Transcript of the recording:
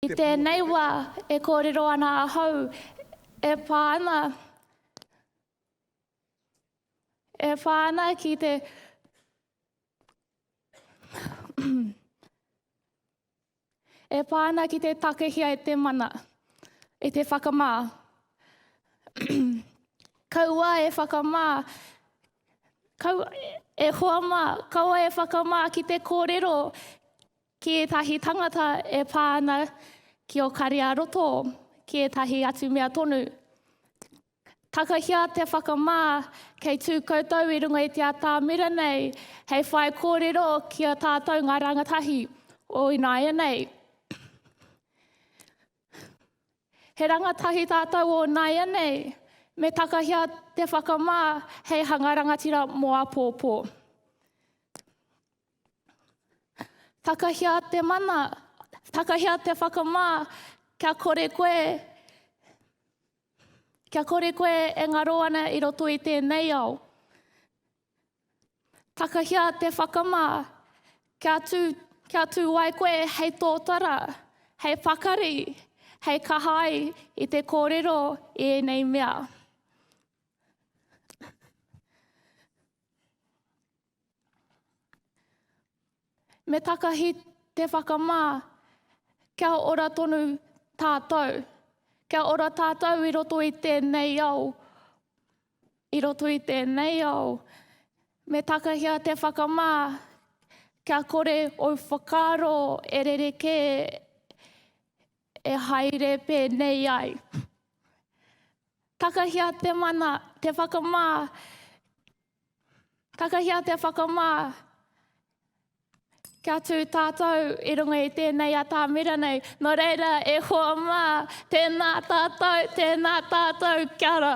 I tēnei wā e kōrero ana ahau e pā ana, e pā ana ki te e pā ana ki te takahia e te mana, e te whakamā. Kaua e whakamā Kau e hoa mā, kaua e whakamā ki te kōrero ki ētahi tangata e pā ana ki ō kare-ā-roto, ki ētahi atu mea tonu. Takahia te whakamā kei tū koutou i runga i te atāmira nei hei whai kōrero ki a tātou ngā rangatahi o ināianei. He rangatahi tātou o nāianei, me takahia te whakamā hei hanga rangatira mō apōpō. Takahia te mana, takahia te whakamā, kia kore koe, kia kore koe e ngaro ana i roto i tēnei ao. Takahia te whakamā, kia tū, kia tū ai koe hei tōtara, hei pakari, hei kaha ai i te kōrero i ēnei mea. Me takahi te whakamā, kia ora tonu tātou, kia ora tātou i roto i tēnei ao, I roto i tēnei ao, me takahia te whakamā kia kore ou whakaaro e rerekē e haere pēnei ai. Takahia te mana, te whakamā, takahia te whakamā Kia tū tātou i runga i tēnei atamira nei. Nō reira, e hoa mā, tēnā tātou, tēnā tātou, kia ora.